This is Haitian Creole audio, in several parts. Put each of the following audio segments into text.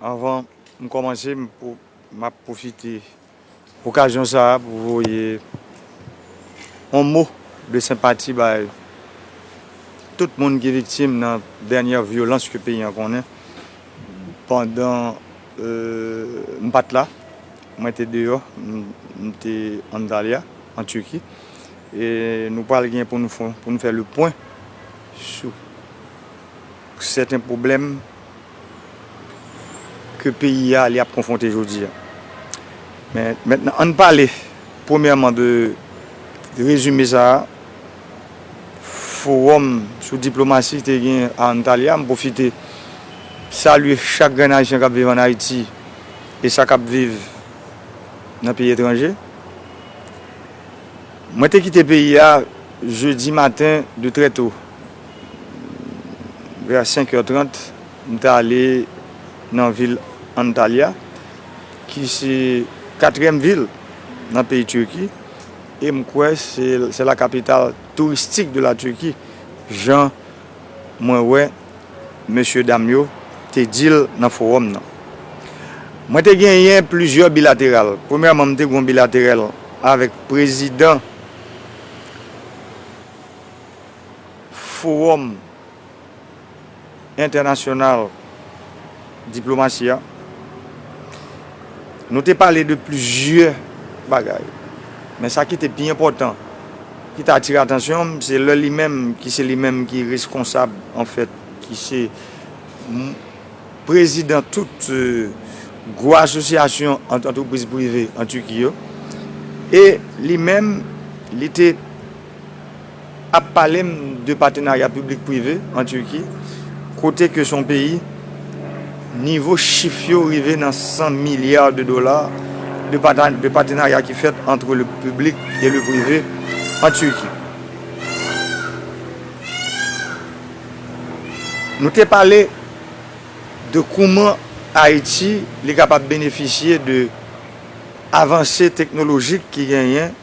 Anvan m kòmanse m ap pwofite okazyon sa a pou voye yon mo de senpati bay tout moun ki viktim nan dènyè vyolans ke peyi an konnen. Pandan m pa t la, mwen te deyò, m te Antalya, an Tiki, e nou pral gen pou nou fè le pwen sou. Pou sèten pwoblèm ke peyi a li ap konfwonte jodi a. Men, mentnan ann pale premyèman de rezime sa a fowòm sou diplomasi te gen a Antalya. M pwofite salye chak grenn Ayisyen k ap viv ann Ayiti e sa k ap viv nan peyi etranje. Mwen te kite peyi a jedi maten de trè to. Vè a 5 è 30, m t ale nan vil Antalya, ki se katriyèm vil nan peyi Tirki, e m kwè se la kapital touristik de la Tirki, jan mwen wè mesye dam yo te di l nan fowòm nan. Mwen te genyen plizyè bilateral. Premyèman, m te gen yon bilaterèl avèk prezidan. Fowòm entènasyonal diplomasi a, nou te pale de plizyè bagay, men sa ki te pi enpòtan, ki te atire atansyon m, se lè li menm, ki se li menm ki reskonsab an fèt, ki se prezidan tout gwo asosyasyon ant antrepriz prive an Turquie yo, e li menm, li te. ap pale m de patenarya piblik prive an Turki kote ke son peyi nivo chif yo rive nan 100 milya de dola de patenarya ki fèt antre le piblik e le prive an Turki. Nou te pale de kouman Ayiti li kapab benefisye de avanse teknolojik ki genyen.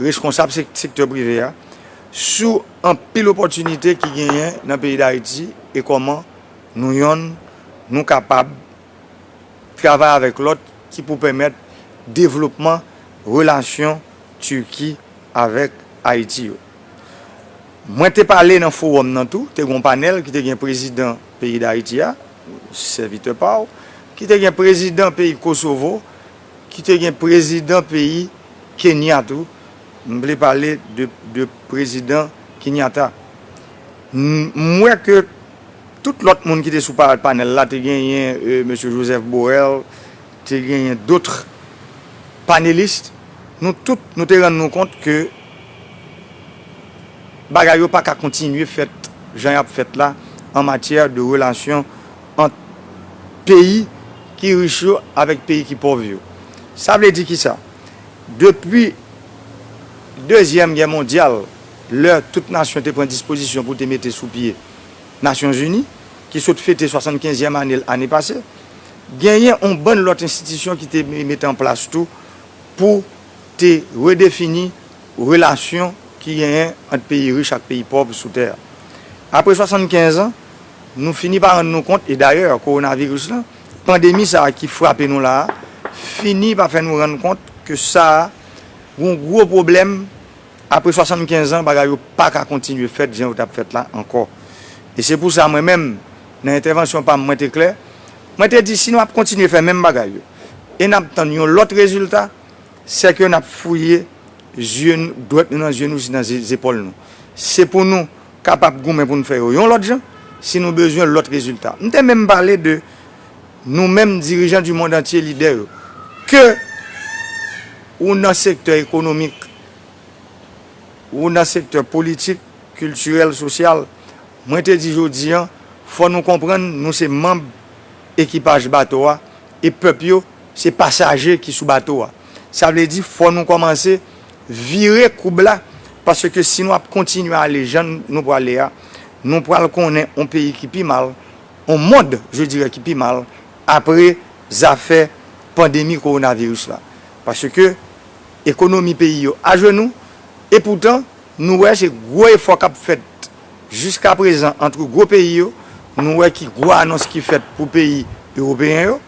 reskonsab sektè prive a sou anpil opòtinite ki genyen nan peyi Dayiti e kòman nou yonn nou kapab travay avèk lòt ki pou pèmèt devlopman relasyon Turki avèk Ayiti yo. Mwen te pale nan fowòm nan tou, te gen yon panèl ki te gen prezidan peyi Dayiti a, sèvitè pa w, ki te gen prezidan peyi Kosovo, ki te gen prezidan peyi Kenya tou, m vle pale de prezidan Kenyata. M wè ke tout lòt moun ki te sou panèl la, te genyen Mesye Joseph Borrell, te genyen dotre panelis, nou tout nou te rann nou kont ke bagay yo pa ka kontinye fèt jan y ap fèt la an matyè de relasyon ant peyi ki rich yo avèk peyi ki pòv yo. Sa vle di ki sa? Depi Dezyèm Gè Mondyal, lè tout nasyon te pran dispozisyon pou te mete sou pye Nasyon Zini, ki sot fete swasannkenzyèm ane l ane pase, genyen on bann lòt enstitisyon ki te mete an plas tou pou te redefini relasyon ki genyen ant peyi rich ak peyi pòv sou tè a. Apre swasannkenz an, Nou fini pa rann nou kont, e dayè kowonaviris lan, pandemi sa a ki frape nou la a, fini pa fè nou rann kont ke sa a gon gwo pwoblèm, apre 75 an bagay yo pa ka kontinye fèt jan yo t ap fèt la ankò. E se pou sa mwen menm, nan entèvansyon pa m mwen te klè, mwen te di si nou ap kontinye fè menm bagay yo, e n ap tann yon lòt rezilta, sè ke n ap fouye zye, dwèt nou nan zye nou jis nan zepòl nou. Se pou nou. kapab goumen pou n fè yo yon lòt jan, si nou bezwen lòt rezilta. M te menm pale de nou menm dirijan di mond antye, lidè yo, ke ou nan sektè ekonomik, ou nan sektè politik, kiltirèl, sosyal, mwen te di jodi an, fò nou konprann nou se manb ekipaj bato a, e pèp yo se pasaje ki sou bato a. Sa vle di fò nou kòmanse Vire koub la, paske si nou ap kontinye ale jan nou prale a, nou pral konnen on peyi ki pi mal, on mond je dirè ki pi mal, apre zafè pandemi kowonaviris la. Paske ekonomi peyi yo ajenou, e poutan nou wè se gwo efò k ap fèt jiska prezan antre gwo peyi yo, nou wè ki gwo anons ki fèt pou peyi ewopeyen yo,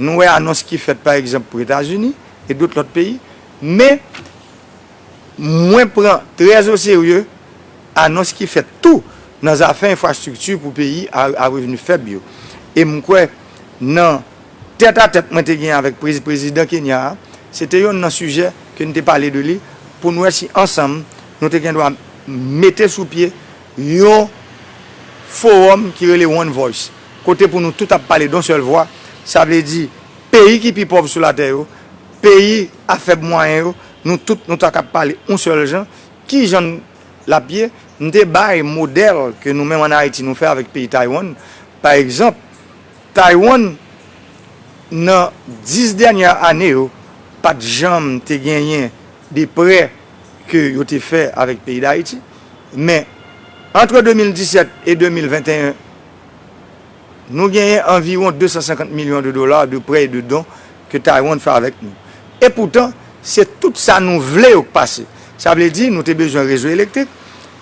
nou wè anons ki fèt pa egzanp pou Etazini e dout lòt peyi. Men, mwen pran trè o serye anons ki fèt tou nan zafè enfrastrikti pou peyi a revni fèb yo. E m kwè nan tèt a tèt mwen te gen avèk prezidan Kenya a, se te yonn nan sijè ke n te pale de li pou n wè si ansanm nou te gen dwa mete sou pye yon fowòm ki rele One Voice, kote pou nou tout ap pale don sèl vwa, sa vle di peyi ki pi pòv sou latè yo, Peyi a fèb mwayen yo, nou tout nou ta kab pale yon sèl jan, ki jan l ap ye? M te bay modèl ke nou menm ann Ayiti nou fè avèk peyi Taiwan. Pa egzanp, Taiwan nan 10 dènyè ane yo pa t janm te genyen de prè ke yo te fè avèk peyi Dayiti, men antre 2017 e 2021, Nou genyen anviwon 250 milyon de dola de prè e de don ke Taiwan fè avèk nou. E poutan, se tout sa nou vle yo k pase. Sa vle di, nou te bezwen rezo elektrik,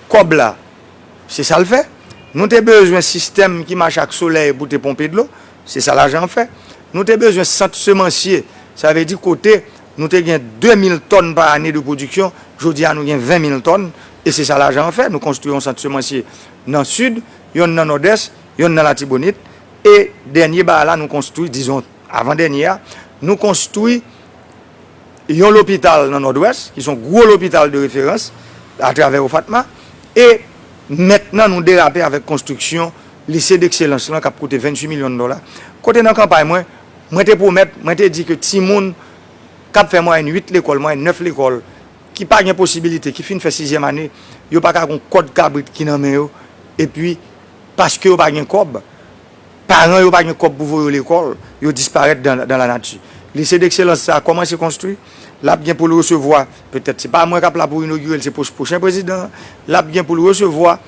kòb la, se sa l fè. Nou te bezwen sistèm ki mache ak solèy pou te ponpe dlo, se sa lajan an fè. Nou te bezwen sant semansye, sa vle di kote nou te gen 2 mil tòn pa ane de pwodiksyon, jodi a nou gen 20 mil tòn, e se sa lajan an fè. Nou konstwi yon sant semansye nan Sid, yonn nan Nòdès. Yonn nan Latibonit. E dènye ba la nou konstwi, dizon avan dènye a, nou konstwi yon lopital nan Nòdwès, ki son gwo lopital de referans atravè OFATMA. E mentnan nou derape avèk konstriksyon Lise dekselans lan k ap koute 28 milyon dola. Kote nan kanpay mwen, mwen te pwomèt, mwen te di ke timoun k ap fè mwayèn 8 lekòl, mwayèn 9 lekòl, ki pa gen posibilite, ki fin fè sizyèm ane, yo pa ka gen yon kòd kabrit ki nan men yo, epi. paske yo pa gen kòb, paran yo pa gen kòb pou voye yo lekòl, yo disparèt dan la nati. Lycée d'excellence sa a kòmanse konstwi, l ap gen pou l resevwa, petèt se pa mwen k ap la pou inogire l, se pwochen prezidan an, l ap gen pou l resevwa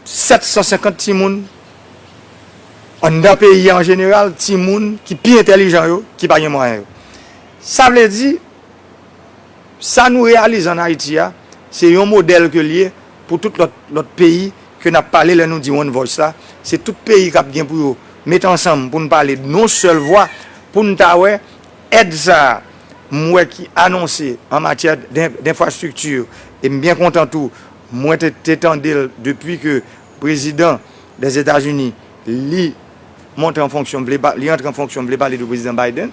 750 timoun anndan peyi a an jeneral, timoun ki pi entèlijan yo, ki pa gen mwayen yo. Sa vle di, sa nou reyalize an Ayiti a, se yon modèl ke l ye Pou tout lòt lòt peyi ke n ap pale lè nou di one voice la, se tout peyi k ap gen pou yo met ansanm pou n pale d on sèl vwa pou n ta wè èd sa a m wè ki anonse an matyè d enfrastrikti e m byen kontan tou mwen te te tande l depi ke prezidan Dèzetazini li monte an fonksyon vle li antre an fonksyon vle pale de prezidan Biden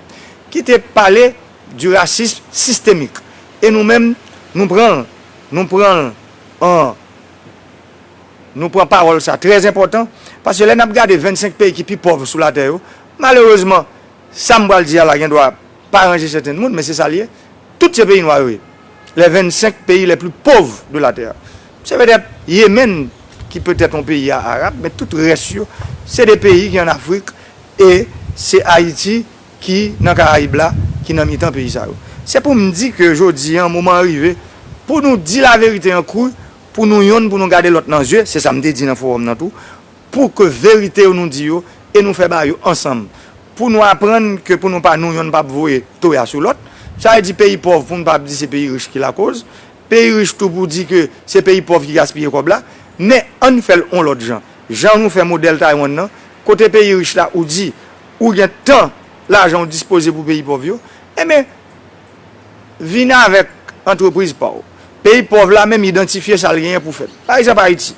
ki te pale Du racisme systémique e nou menm nou pran l nou pran l an nou pran pawòl sa trè enpòtan paske lè n ap gade 25 peyi ki pi pòv sou latè yo malerezman sa m pral di a la gen dwa pa ranje sèten moun men se sa l ye tout se peyi nwa yo ye les 25 pays les plus pauvres de la terre se petèt Yemen ki petèt yon peyi a arab men tout rès yo se de peyi ki an Afrik e se Ayiti. ki nan Karayib la, ki nan mitan peyi sa yo. Se pou m di ke jodi an, moman an rive pou nou di laverite an kru, pou nou yonn pou nou gade lòt nan zye, se sa m te di nan fowòm nan tou, pou ke verite yo nou di yo e nou fè ba yo ansanm, pou nou aprann ke pou nou pa nou yonn pa ap voye toya sou lòt. Sa vle di peyi pòv pou nou pa ap di se peyi rich ki lakoz, peyi rich tou pou di ke se peyi pòv ki gaspiye kòb la. Men, ann fè l on lòt jan. Jan nou fè modèl Taiwan nan, kote peyi rich la ou di. ou gen tan lajan ou dispoze pou peyi pòv yo, enben vin avèk antrepriz pa w. Peyi pòv la menm idantifye sa l genyen pou fèt. Pa egzanp Ayiti,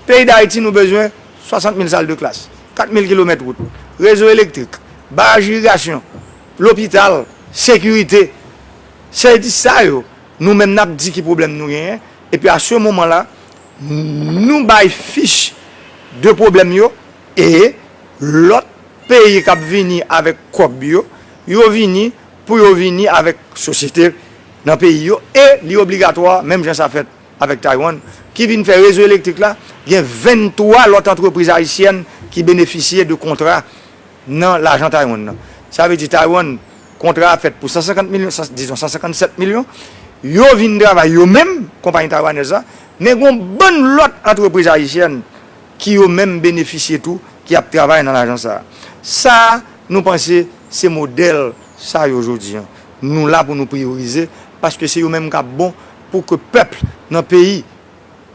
peyi Dayiti nou bezwen 60 mil sal de klas, 4 mil kilomèt wout, rezo elektrik, baraj irigasyon, lopital, sekirite. Se di sa yo nou menm n ap di ki pwoblèm nou genyen, epi a se moman la nou bay fich de pwoblèm yo, E lòt peyi kap vini avèk kòb yo, yo vini pou yo vini avèk sosyete nan peyi yo e li obligatwa menm jan sa fèt avèk Taiwan ki vin fè rezo elektrik la, gen 23 lòt antrepriz ayisyèn ki benefisye de kontra nan lajan Taiwan nan. Sa vle di Taiwan kontra a fèt pou 150 milyon, dizon 157 milyon, yo vin travay yo menm, konpayi taiwanèz la, men gon bann lòt antrepriz ayisyèn. ki yo menm benefisye tou ki ap travay nan lajan sa a. Sa nou panse se modèl sa yo jodi an nou la pou nou priyorize paske se yo menm k ap bon pou ke pèp nan peyi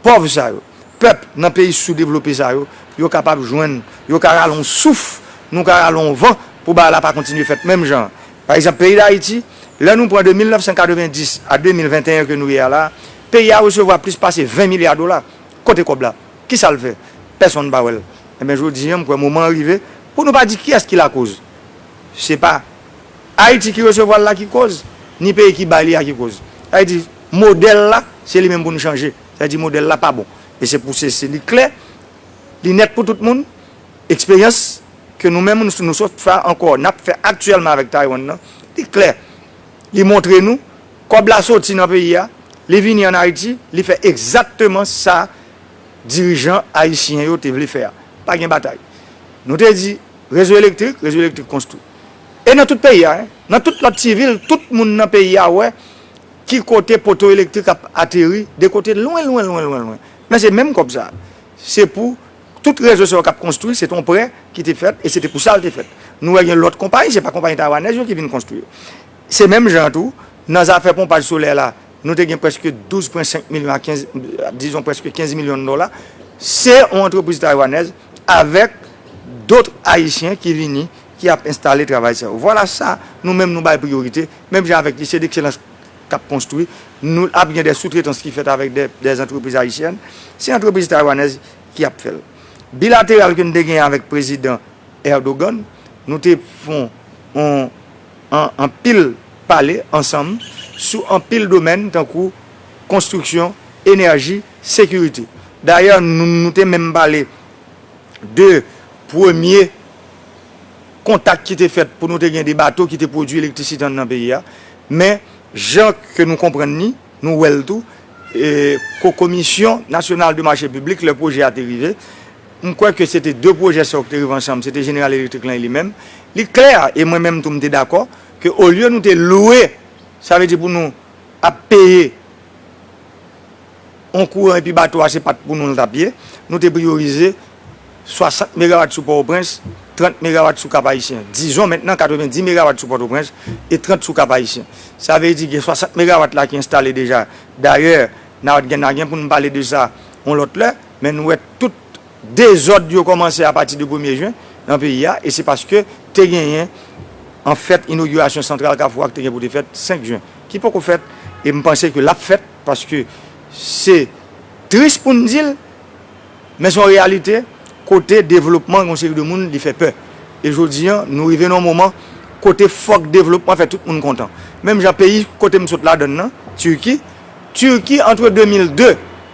pòv sa yo, pèp nan peyi soudevlope sa yo, yo kapab jwenn, yo ka rale yon souf, nou ka rale yon van pou bagay la pa kontinye fèt menm jan an. Pa egzanp peyi Dayiti, lè nou pran de 1990 a 2021 ke nou ye a la a, peyi a resevwa plis pase 20 milya dola Kote kòb la? Kisa l fè? Pèsonn pa wè l. Enben jodi an m kwè moman an rive pou nou pa di kiyès ki lakoz. Se pa Ayiti ki resevwa l la ki koz, ni peyi ki bay li a ki koz. Sa vle di modèl la se li menm pou nou chanje. Sa vle di modèl la pa bon. E se pou se se li klè, li nèt pou tout moun, eksperyans ke nou menm nou sot fè ankò, n ap fè aktyèlman avèk Taiwan nan, li klè, li montre nou, Kòb la soti nan peyi a, li vini an Ayiti, li fè egzatteman sa dirijan ayisyen yo te vle fè a. Pa gen batay. Nou te di, rezo elektrik, rezo elektrik konstwi. E nan tout peyi a, hein. Nan tout lòt ti vil, tout moun nan peyi a wè ki kote poto elektrik ap ateri, de kote lwen, lwen, lwen, lwen, lwen. Men se menm kòb sa a. Se pou tout rezo sa yo k ap konstwi, se te yon prè ki te fèt e se te pou sa l te fèt. Nou wè gen lòt konpayi, se pa konpayi taywanèz yo ki vin konstwi yo. Se menm jan an tou, nan zafè ponpaj solè la, nou te gen prèske 12 pwen 5 milyon a 15, dizon prèske 15 milyon dola. Se yon antrepriz taywanèz avèk dotr ayisyen ki vini, ki ap enstale travay sa yo. Vwala sa nou menm nou bay priyorite, menm jan avèk Lycée d'excellence k ap konstwi, nou ap gen de soutretans ki fèt avèk de antrepriz ayisyèn, se antrepriz taywanèz ki ap fè l. Bilateral ke nou te genyen avèk prezidan Erdogan, nou te fon yon. An anpil pale ansanm sou anpil domèn tankou konstriksyon, enèji, sekirite. Dayè nou te menm pale de premye kontak ki te fèt pou nou te gen de bato ki te pwodui elektrisite anndan peyi a. Men jan ke nou konprann ni, nou wè l tou, Komisyon Nasyonal de Mache Piblik lè pwojè a te rive, M kwè ke se te 2 pwojè sa yo ki te rive ansanm, se te Jeneral Elektrik lan e li menm. Li klè, e mwen menm tou m te dakò, ke olye nou te lwe, sa vle di pou nou ap peye yon kouran epi bato a se pa t pou nou l t ap ye, nou te priyorize 60 megawat sou Pòtoprens, 30 megawat sou Kap-Ayisyen. Dizon mentnan 90 megawat sou Pòtoprens e 30 sou Kap-Ayisyen. Sa vle di gen 60 megawat la ki enstale deja. Dayè, n a gen pou nou pale de sa yon lòt lè. Men nou wè tout dezòd yo kòmanse a pati de premye jen nan peyi a e se paske te genyen an fèt inogirasyon santral kafou a ki te gen pou te fèt 5 jen ki poko fèt e m panse ke l ap fèt paske se tris pou n di l men se yon reyalite kote devlopman yon seri de moun li fè pè e jodi an nou rive nan yon moman kote fòk devlopman fè tout moun kontan menm jan peyi kote m sot ladann nan Turquie Turquie antre 2002.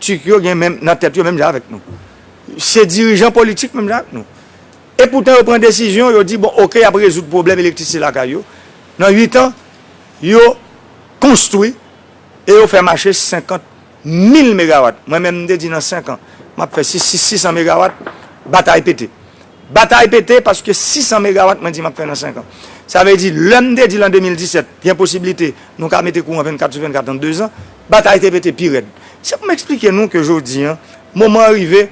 Turc yo gen menm nan tèt yo menm jan avèk nou. Se dirijan politik menm jan ak nou. E poutan yo pran desizyon, yo di bon ok y ap rezoud pwoblèm elektrisite lakay yo, nan 8 an yo konstwi e yo fè mache 50 mil megawat. Mwen menm m te di nan 5 an m ap fè 600 megawat, batay pete. Batay pete paske 600 megawat mwen di m ap fè nan 5 an. Sa vle di lè m te di l an 2017 gen posiblite nou ka mete kouran 24 sou 24 an 2 zan, batay te pete pi rèd. Se pou m eksplike nou ke jodi an moman an rive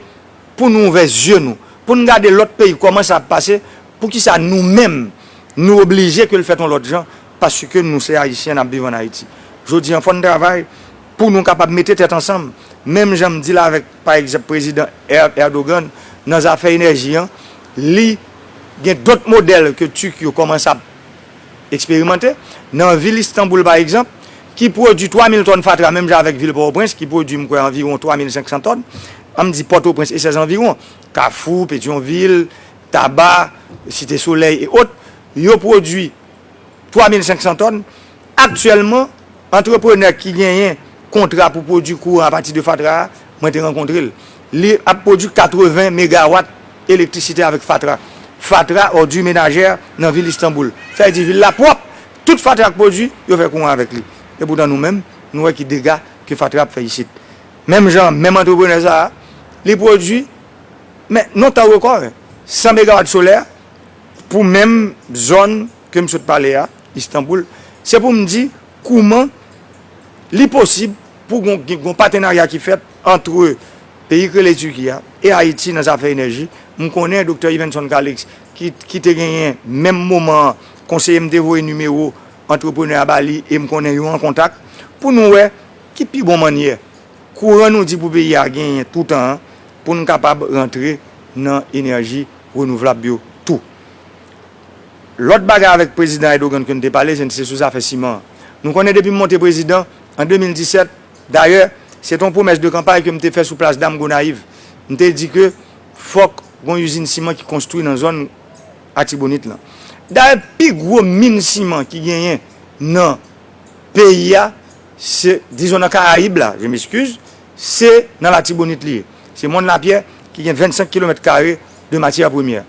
pou nou ouvè zye nou, pou n gade lòt peyi kòman sa ap pase, poukisa nou menm nou oblije ke l fèt yon lòt jan paske nou se Ayisyen n ap viv an Ayiti. Jodi an fò n travay pou nou kapab mete tèt ansanm menm jan m di l avèk. Pa egzanp prezidan Erdogan nan zafè enèji an li gen dòt modèl ke Turk yo kòmanse ap eksperimante. Nan vil Istanbul pa egzanp ki pwodwi 3 mil tòn fatra menm jan avèk vil Pòtoprens ki pwodwi m kwè anviwon 3 mil 500 tòn. An m di Pòtoprens e sèzanviwon, Kafou, Petyonvil, Taba, Site Solèy e ot, yo pwodwi 3 mil 500 tòn. Aktyèlman, antreprenè ki genyen kontra pou pwodui kouran apati de fatra a, mwen te rankontre l. Li ap pwodui 80 megawat elektrisite avèk fatra. Fatra, ordures ménagères, nan vil Istanboul. Sa vle di vil la pwòp! Tout fatra k pwodui, yo fè kouran avèk li. Epoutan nou menm, nou wè ki dega ke fatra ap fè isit. Menm jan an, menm antreprenè sa a, li pwodui, men non tan rekò, 100 megawat solè pou menm zòn ke m sot pale a, Istanboul, se pou m di kouman li posib pou gon gen gon patenarya ki fèt antre peyi k rele Tiki a e Ayiti nan zafè enèji. M konnen Doktè Yvenson Calixte ki ki te genyen menm moman an konseye m te voye nimewo antreprenè a ba li e m konnen yo an kontak pou nou wè ki pi bon mannyè kouran nou di pou peyi a genyen toutan an pou n kapab rantre nan enèji renouvlab yo tou. Lòt bagay avèk Prezidan Erdogan ke n te pale se sou zafè siman an. Nou konnen depi m monte prezidan an 2017, dayè, se te yon pwomès de kanpay ke m te fè sou Plas Dam Gonayiv, m te di ke fòk gen yon izin siman ki konstwi nan zòn Atibonit lan. Dayè, pi gwo min siman ki genyen nan peyi a, se, dizon nan Karayib la, je m'excuse, se nan Latibonit li ye. Se Mòn Lapyè ki gen 25 kilomèt kare de matyè premyè.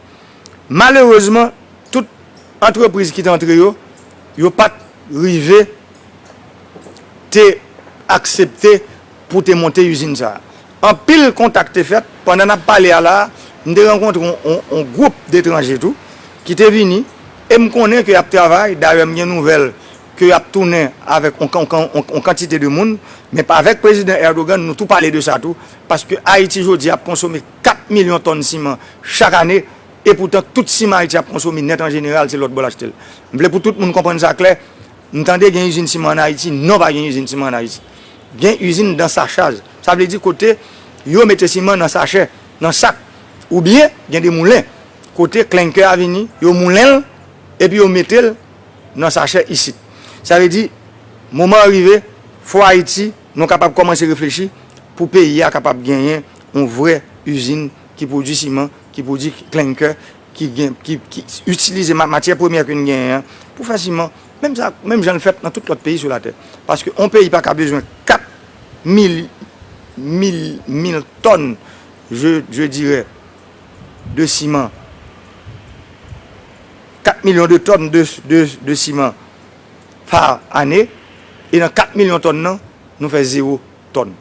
Malerezman, tout antrepriz ki te antre yo, yo pa t rive te aksepte pou te monte izin sa a. Anpil kontak te fèt. Pandan n ap pale a la a, m te rankontre yon gwoup detranje tou ki te vini e m konnen ke y ap travay. Dayè, m gen nouvèl ke y ap tounen avèk yon kantite de moun. Men avèk Prezidan Erdogan, nou tou pale de sa tou, paske Ayiti jodi a ap konsome. 4 milyon tòn siman chak ane, epoutan tout siman Ayiti ap konsome nèt an jeneral se lòtbò l achte l. M vle pou tout moun konprann sa klè, m tande gen izin siman an Ayiti, non pa gen izin siman an Ayiti. Gen izin dan sachaj, sa vle di kote yo mete siman nan sachè, nan sak, oubyen gen de moulen kote klenkè a vini, yo moulen l epi yo mete l nan sachè isit. Sa vle di moman an rive, fò Ayiti nou kapab kòmanse reflechi pou peyi a kapab genyen yon vrè izin ki pwodui siman, ki pwodui klenkè, ki gen, ki itilize matyè premyè ke n genyen an pou fè siman, menm sa, menm jan l fèt nan tout lòt peyi sou latè. Paske yon peyi pa ka bezwen 4 mil, mil, mil tòn, je, je dirè, de siman, 4 milyon de tòn de, de, de siman pa ane, e nan 4 milyon tòn nan, nou fè zewo tòn.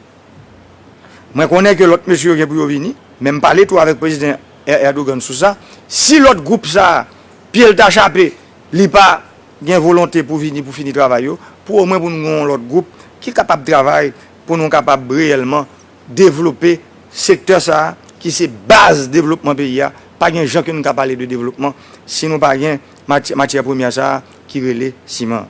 Mwen konnen ke lòt mesye yo gen pou yo vini, men m pale tou avèk Prezidan Erdogan sou sa, si lòt gwoup sa a pye l ta chape, li pa gen volonte pou vini pou fini travay yo, pou omwen pou nou gen yon lòt gwoup ki kapab travay pou nou kapab reyèlman devlope sektè sa a ki se baz devlopman peyi a, pa gen jan ke nou ka pale de devlopman si nou pa gen matyè premyè sa a ki rele siman.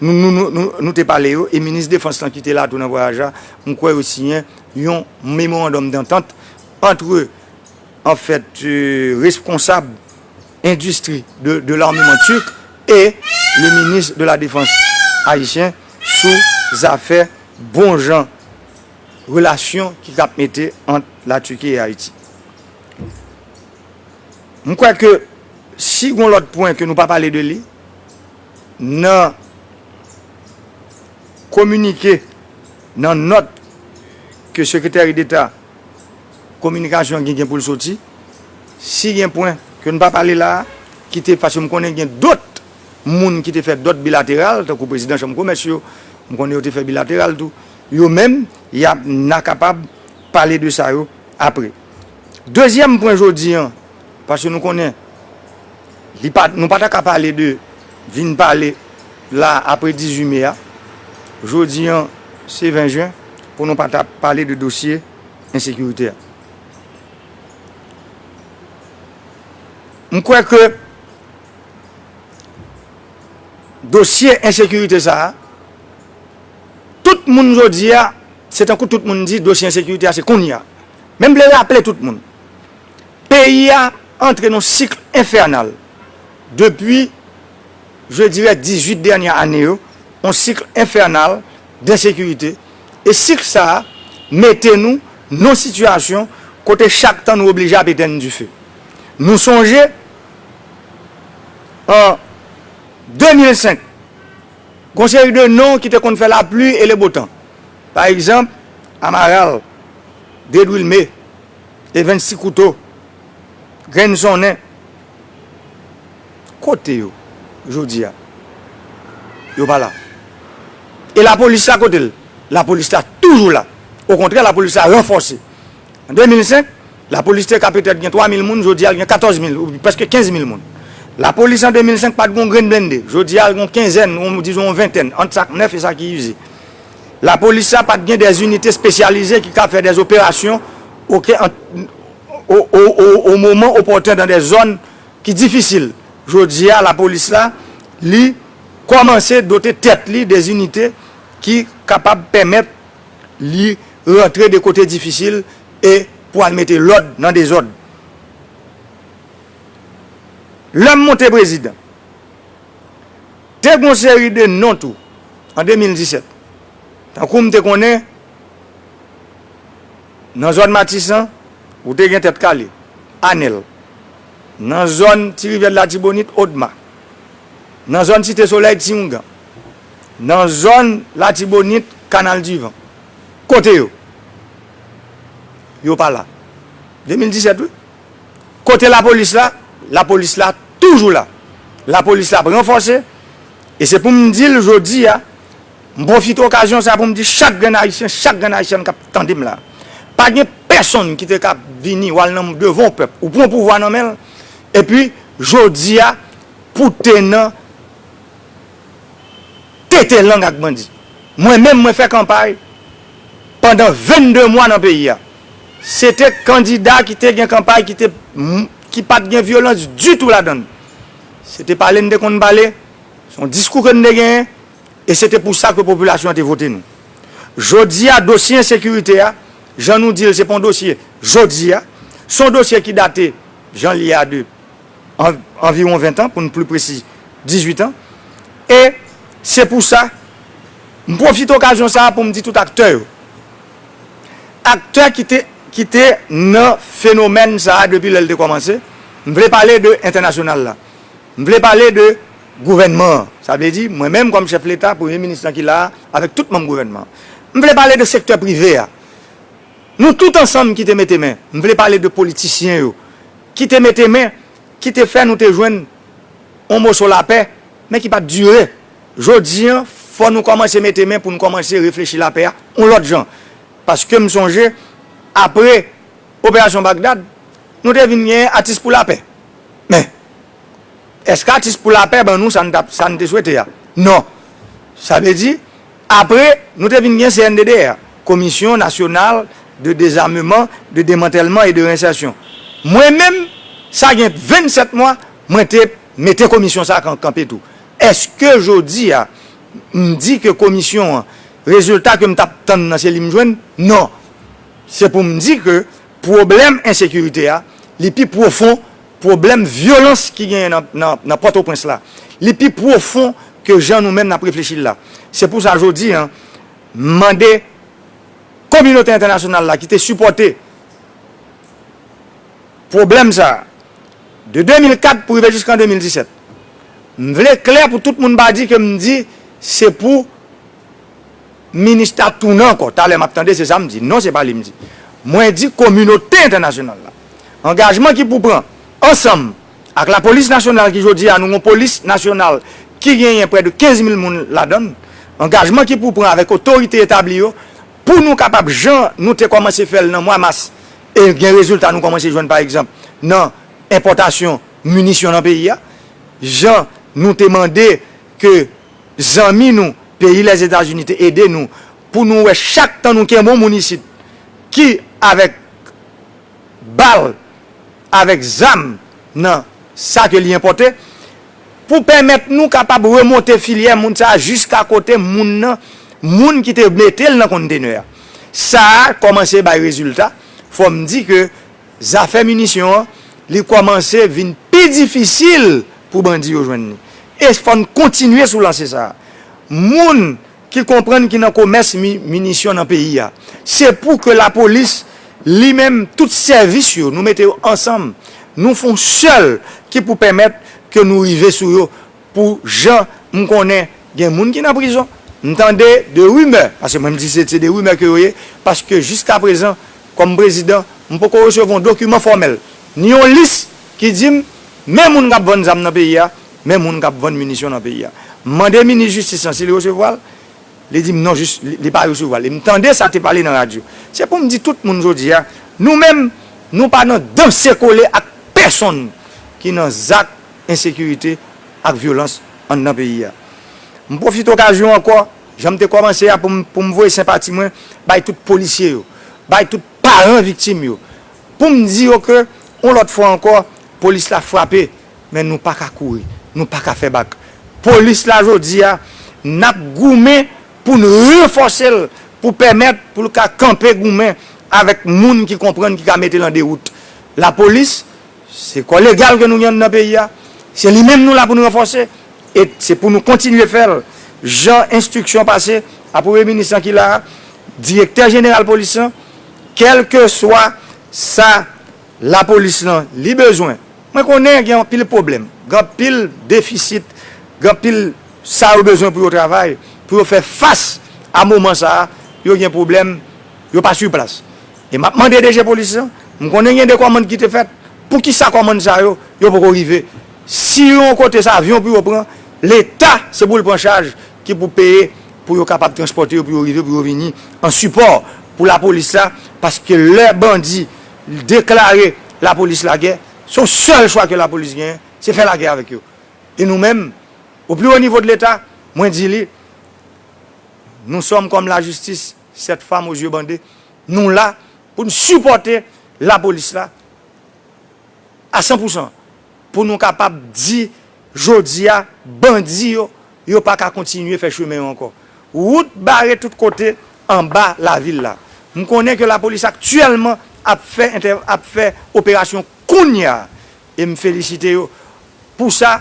Nou te pale yo, e minis defans lan ki te la tou nan vwayaj la, m kwè yo siyen yon memorandòm dantant antre anfèt responsab endistri de larmeman turk e le minis de la defans ayisyen sou zafè bon jan relasyon ki kab mete ant la Turquie e Ayiti. M kwè ke si gon lòt pwen ke nou pa pale de li, Nan kominike, nan nòt ke Sekreteri Deta Kominikasyon gen gen pou l soti, si gen pwen ke n pa pale la a, ki te, paske m konnen gen dòt moun ki te fè dòt bilateral, tankou Prezidan Chanm Komès yo, m konnen yo te fè bilateral tou, yo menm, y ap, n a kapab pale de sa yo apre. Dezyèm pwen jodi an. Paske nou konnen, li pa, nou pa ta ka pale de vin pale la apre 18 me a. Jodi an, se 20 jen, pou nou pa ta pale de dosye ensekirite a. M kwè ke dosye ensekirite sa a, tout moun jodi a, se tankou tout moun di dosye ensekirite a se kounye a. Men m vle raple tout moun. Peyi a antre nan cycle infernal depi je dirais 18 dernière année yo, yon cycle infernal d'insécurité e cycle sa a mete nou nan situation kote chak tan nou oblije ap etèn dife. Nou sonje an 2005 gon seri de non ki te konn fè la pluie et le beau temps pa egzanp Amaral, Dedwilme, E 26 kouto, grenn sonnen. Kote yo jodi a? Yo pa la. E lapolis la kote l? Lapolis la toujou la. Okontrè lapolis la ranfòse. An 2005, lapolis te ka petèt gen 3 mil moun, jodi a l gen 14 mil, ou prèske 15 mil moun. Lapolis an 2005 pa t gen yon grenn blende, jodi a l gen yon kenzèn, dizon yon ventèn, ant sa k nèf e sa ki ize. Lapolis la pa t gen dè inite spesyalize ki ka fè dè operasyon o moman opòten dan dè zòn ki difisil. Jodi a lapolis la li kòmanse dote tèt li de inite ki kapab pèmèt li rantre de kote difisil e pou al mete lòd nan dezòd. Lè m monte prezidan. Te gon seri de non tou an 2017. Tankou m te konnen nan zòn Matisan ou te gen Tèt Kale, Anèl. Nan zòn Ti Rivyè de Latibonit, Odma. Nan zòn Site Solèy, Ti Oungan. Nan zòn Latibonit, Kanal di Van. Kote yo? Yo pa la. 2017 wi. Kote lapolis la? Lapolis la toujou la. Lapolis la ap ranfòse. E se pou m di l jodi a, m pwofite okazyon sa a pou m di chak grenn Ayisyen, chak grenn Ayisyèn k ap tande m la a, pa gen pèsonn ki te ka vini ou al nan devan yon pèp, ou pran pouvwa nan men l, epi jodi a pou w te nan tete lang ak bandi. Mwen menm, mwen fè kanpay pandan 22 mwa nan peyi a. Se te kandida ki te gen kanpay ki te ki pa t gen vyolans ditou ladan l. Se te pale n te konn pale, se yon diskou ke n te genyen e se te pou sa ke popilasyon an te vote nou. Jodi a dosye ensekirite a, jan nou di l se pa yon dosye jodi a, se yon dosye ki date jan l ye a de anviwon ventan pou n pli presi dizuitan e se pou sa m pwofite okazyon sa a pou m di tout aktè yo, aktè ki te ki te nan fenomèn sa a depi lè l te kòmanse, m vle pale de entènasyonal la, m vle pale de gouvènman an, sa vle di mwen menm kòm chèf leta, premye minis lan ki la a avèk tout manm gouvènman an, m vle pale de sektè prive a, nou tout ansanm ki te mete men, m vle pale de politisyen yo ki te mete men, ki te fè nou te jwenn yon moso lapè men ki pa t dire. Jodi an, fò nou kòmanse mete men pou n kòmanse reflechi lapè a yon lòt jan. Paske m sonje, apre Operasyon Bagdad, nou te vin gen Atis pou Lapè. Men, èske Atis pou Lapè ban nou sa n te swete a? Non. Sa vle di, apre nou te vin gen CNDDR, Commission Nationale de Désarmement, de Démantèlement et de Réinsertion. Mwen menm, sa gen 27 mwa, mwen te mete komisyon sa a kanpe tou. Eske jodi a, m di ke komisyon an, rezilta ke m t ap tann nan se li m jwenn? Non! Se pou m di ke pwoblèm ensekirite a, li pi pwofon pwoblèm vyolans ki genyen nan Pòtoprens la. Li pi pwofon ke jan nou menm n ap reflechi l la. Se pou sa jodi a, m mande kominote entènasyonal la ki te sipòte pwoblèm sa a, De 2004 pou rive jiskan 2017. M vle klè pou tout moun pa di ke m di se pou Minustah tounen ankò. Talè m ap tande se sa m di. Non se pa li m di. Mwen di kominote entènasyonal la. Angajman ki pou pran ansanm ak lapolis nasyonal ki jodi a nou gon polis nasyonal ki genyen prè de 15 mil moun ladan l. Angajman ki pou pran avèk otorite etabli yo. Pou nou kapab jan nou te kòmanse fè l nan mwa mas e gen rezilta nou kòmanse jwenn pa egzanp nan enpòtasyon minisyon nan peyi a, jan nou te mande ke zanmi nou peyi Lèzetazini te ede nou pou nou wè chak tan nou kenbon moun isit ki avèk bal, avèk zam nan sa ke li enpòte. Pou pèmèt nou kapab remonte filyè moun sa a jiska kote moun nan, moun ki te mete l nan konntenè a. Sa a kòmanse bay rezilta, fò m di ke zafè minisyon an, li kòmanse vin pi difisil pou bandi yo jwenn li. E fò n kontinye sou lanse sa a. Moun ki konprann ki nan komès minisyon nan peyi a. Se pou ke lapolis li menm tout sèvis yo nou mete yo ansanm nou fon sèl ki pou pèmèt ke nou rive sou yo pou jan m konnen gen moun ki nan prizon m tande de rimè paske mwen m di se se de rimè ke yo ye paske jiskaprezan kòm prezidan m poko resevwa yon dokiman fòmèl ni yon lis ki di m men moun k ap vann zam nan peyi a. Men moun kap vann minisyon nan peyi a. M mande minis jistis lan si li resevwa l, li di m non jis li pa resevwa l e m tande sa te pale nan radyo. Se pou m di tout moun jodi a, nou menm nou pa nan danse kole ak pèsonn ki nan zak ensekirite ak vyolans anndan peyi a. M pwofite okazyon ankò, jan m te kòmanse a pou m pou m voye senpati mwen bay tout polisye yo, bay tout paran viktim yo, pou m di yo ke yon lòt fwa ankò polis la frape. men nou paka kouri, nou paka fè bak. Polis la jodi a, n ap goumen pou n ranfòse l pou pèmèt pou l ka kanpe goumen avèk moun ki konprann ki ka mete l an dewout. Lapolis, se kò legal ke nou gen anndan peyi a, se li menm nou la pou n ranfòse e se pou nou kontinye fè l jan enstriksyon pase a Premye Minis lan ki la a, Direktè Jeneral Polis lan, kèlkeswa sa. La polis lan li bezwen. Mwen konnen gen anpil pwoblèm, gen anpil defisit, gen anpil sa yo bezwen pou yo travay, pou yo fè fas a moman sa a, yo gen pwoblèm, yo pa su plas. E m ap mande DG polis lan, m konnen gen de kòmand ki te fèt, pou ki sa kòmand sa yo, yo poko rive? Si yon kote se avyon pou yo pran, Leta se pou l pran chaj ki pou peye pou yo kapab transpòte yo pou yo rive, pou yo vini an sipò pou la polis la, paske lè bandi. L deklare lapolis lagè, se yon sèl chwa ke lapolis genyen, se fè lagè avèk yo. E nou menm, o pli wo nivo de leta, mwen di li, nou sòm kòm lajistis, sèt fam o zye bande, nou la pou n sipòte lapolis la a san pou san. pou nou kapab di jodi a bandi yo, yo pa ka kontinye fè chemen yo ankò. Wout bare tout kote anba lavil la. M konnen ke lapolis aktyèlman ap fè ap fè operasyon kounya e m felisite yo pou sa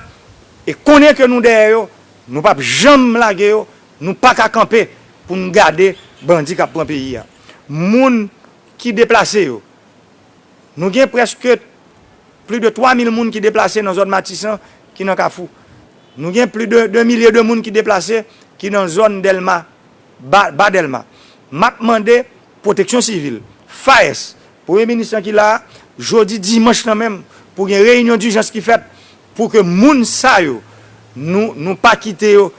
e konnen ke nou dèyè yo, nou pap janm lage yo, nou pa ka kanpe pou n gade bandi k ap pran peyi a. Moun ki deplase yo. Nou gen prèske pli de 3 mil moun ki deplase nan zòn Matisan ki nan Kafou. Nou gen pli de 2 milye de moun ki deplase ki nan zòn Dèlma, Ba Dèlma. M ap mande Pwoteksyon Sivil, FAES, Premye Minis lan ki la a, jodi dimanch lan menm, pou gen reyinyon dijans ki fèt pou ke moun sa yo, nou pa kite yo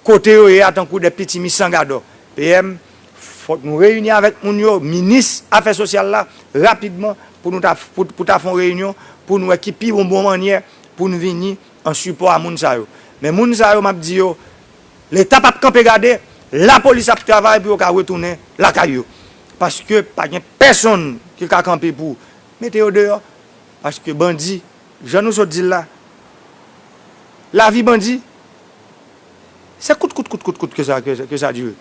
Kote yo ye a tankou de pitimi san gadò. PM, Fòk nou reyini avèk moun yo, minis afè sosyal la, rapidman pou nou ta pou ta fè yon reyinyon pou n wè ki pi bon bon mannyè pou n vini an sipò a moun sa yo. Men moun sa yo m ap di yo Leta p ap kanpe gade, lapolis ap travay pou yo ka retounen lakay yo. Paske pa gen pèsonn ki ka kanpe pou mete yo deyò. Paske bandi, jan nou sot di l la, lavi bandi. Se kout kout kout kout kout ke sa ke sa dire.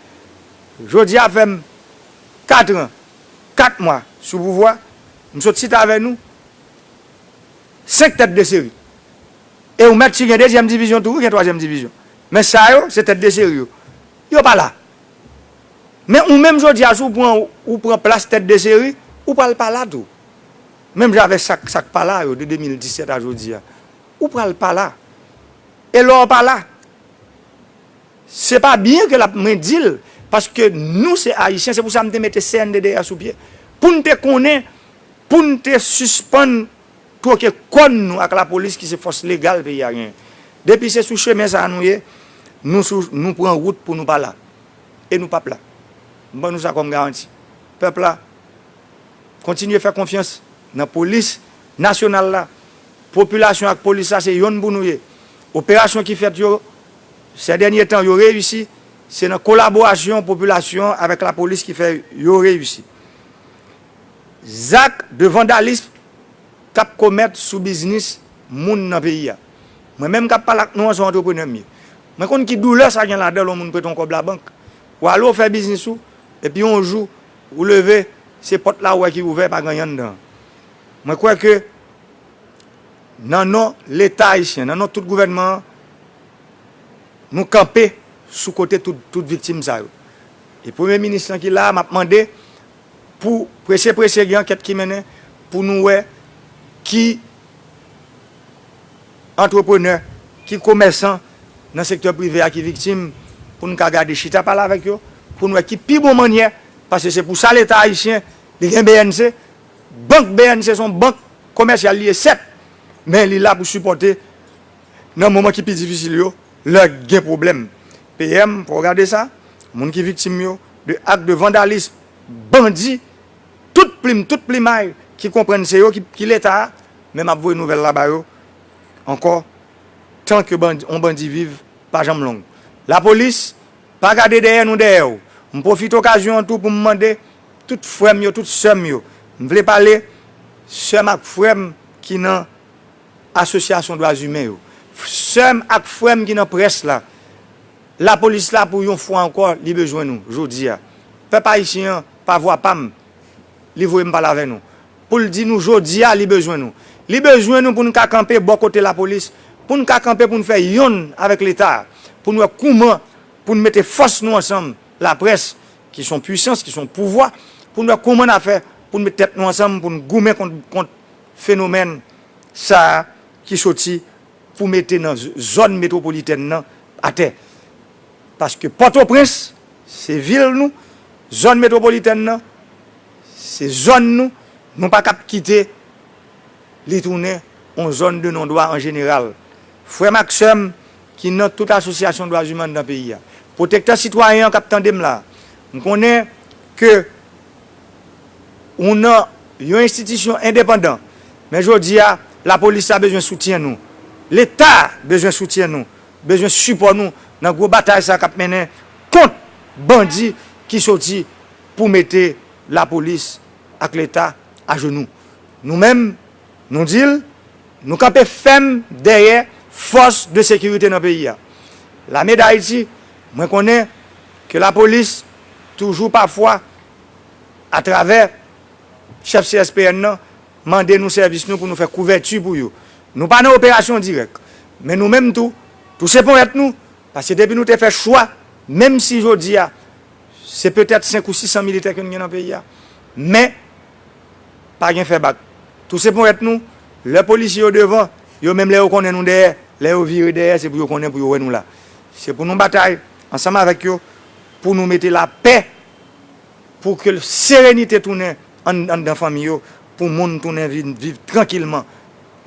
Jodi a fèm 4 ans 4 mwa sou pouvwa, m sot sit avè nou 5 tèt de seri. E ou mèt si gen dezyèm divizyon tou wi gen twazyèm divizyon. Men sa yo se tèt de seri yo. Yo pa la. Men ou menm jodi a si w pran ou pran plas tèt de seri, ou pral pa la tou. Menm jan avè sak sak pa la yo de 2017 a jodi a. Ou pral pa la. E lè w pa la, se pa byen ke l ap mwen di l, paske nou se Ayisyen, se pou sa m te mete CNDD a sou pye, pou n te konnen, pou n te sispann twoke kòn nou ak lapolis ki se fòs legal peyi a genyen. Depi se sou chemen sa a nou ye, nou sou, nou pran wout pou nou pa la. E nou p ap la. M ban nou sa kòm garanti. Pèp la, kontinye fè konfyans nan polis Nasyonal la. Popilasyon ak polis la se yonn pou nou ye. Operasyon ki fèt yo sè dènye tan yo reyisi, se nan kolaborasyon popilasyon avèk lapolis ki fè yo reyisi. Zak de vandalism k ap komèt sou biznis moun nan peyi a. Mwen menm k ap pale ak nou an se yon antreprenè m ye. Mwen konn ki doulè sa gen ladan l yon moun prete w kòb labank, w ale w fè biznis ou epi yon jou ou leve se pòt la ou wè ki ouvè pa gen anyen anndan an. Mwen kwè ke nan non Leta Ayisyen, nan non tout gouvènman an, nou kanpe sou kote tout viktim sa yo. E Premye Minis lan ki la a, m ap mande pou prese prese gen ankèt ki mennen pou nou wè ki antreprenè, ki komèsan nan sektè prive a ki viktim pou nou ka gade chita pale avèk yo pou nou wè ki pi bon mannyè, paske se pou sa Leta Ayisyen li gen bnc, Bank bnc se yon bank komèsyal li ye sèt, men li la pou sipòte nan moman ki pi difisil yo lè gen pwoblèm. PM, fò w gade sa, moun ki viktim yo de ak de vandalism bandi tout plim, tout plimay ki konprann se yo ki leta a, men m ap voye nouvèl la ba yo ankò tan ke yon bandi viv pa janm long. Lapolis, pa gade dèyè nou dèyè w. M pwofite okazyon an tou pou m mande Tout frèm yo tout sèm yo m vle pale sèm ak frèm ki nan asosyasyon dwa zimen yo sèm ak frèm ki nan près la lapolis la pou yon fwa ankò li bezwen nou jodia pèp ayisyen an pa vwa pam li voye m pale avè nou poul di nou jodia li bezwen nou li bezwen nou pou n ka kanpe bò kote lapolis pou n ka kanpe pou n fè yonn avèk leta pou n wè kouman pou n mete fòs nou ansanm Laprès, ki s on pwisans, ki s on pouvwa, pou n wè kouman n a fè pou n met tèt nou ansanm pou n goumen kont fenomèn sa a ki soti pou mete nan zòn metwopolitèn nan atè. Paske Pòtoprens se vil nou, zòn metwopolitèn nan se zòn nou, nou pa kab kite li tounen on zòn de non dwa an jeneral. Frè m ak sè m, ki nan tout asosyasyon dwa ziman nan peyi a. Pwotektè sitwayen an k ap tande m la a, m konnen ke ou nan yon enstitisyon endepandan, men jodi a, lapolis la bezwen soutyen nou, Leta bezwen soutyen nou, bezwen sipò nou nan gwo batay sa a k ap mennen kont bandi ki soti pou mete lapolis ak Leta ajenou. Nou menm. Nou di l, nou kanpe fèm dèyè fòs de sekirite nan peyi a. Lame Dayiti, mwen konnen ke lapolis toujou pafwa atravè chèf CSPN nan mande nou sèvis nou pou nou fè kouvèti pou yo. Nou pa nan operasyon dirèk, men nou menm tou touse ponyèt nou, paske depi nou te fè chwa, menm si jodi a se petèt 5 ou 600 militè ke nou gen nan peyi a, men. pa gen fè bak. Touse ponyèt nou, lè polisye yo devan, yo menm lè yo konnen nou dèyè, lè yo vire dèyè se pou yo konnen pou yo wè nou la. Se pou nou batay ansanm avèk yo pou nou mete lapè pou ke serenite tounen anndan fanmi yo, pou moun tounen vin viv trankilman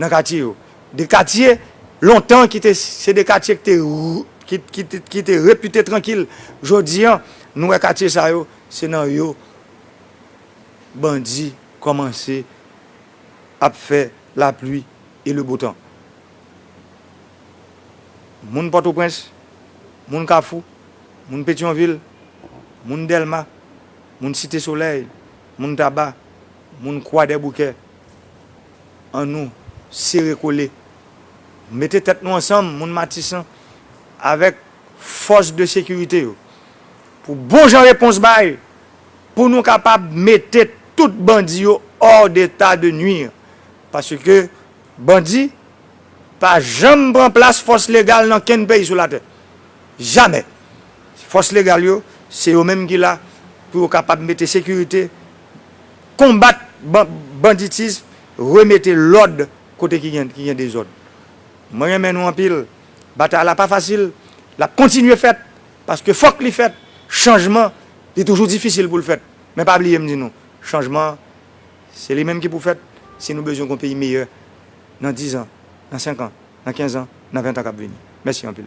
nan katye yo. De katye lontan ki te se de katye ki te repite trankil, jodi an nou wè katye sa yo se nan yo. bandi kòmanse ap fè lapli e le bo tan. Moun Pòtoprens, moun Kafou, moun Petyonvil, moun Dèlma, moun Site Solèy, moun Taba, moun Kwadèboukè, an nou sere kole, mete tèt nou ansanm, moun Matisan, avèk fòs de sekirite yo, pou bon jan repons bay! pou nou kapab mete tout bandi yo hors d'état de nuire paske bandi pa janm pran plas fòs legal nan kenn peyi sou latè jamè fòs legal yo se yo menm ki la pou yo kapab mete sekirite konbat banditism remete lòd kote ki gen dezòd mwen renmen nou anpil batay la pa fasil lap kontinye fèt. Paske fòk li fèt, chanjman li toujou difisil pou l fèt. Men pa bliye m di nou, chanjman an se li menm ki pou fèt si nou bezwen gon peyi meyè nan dizan, nan senkan, nan kenzan, nan ventan k ap vini. Mèsi anpil.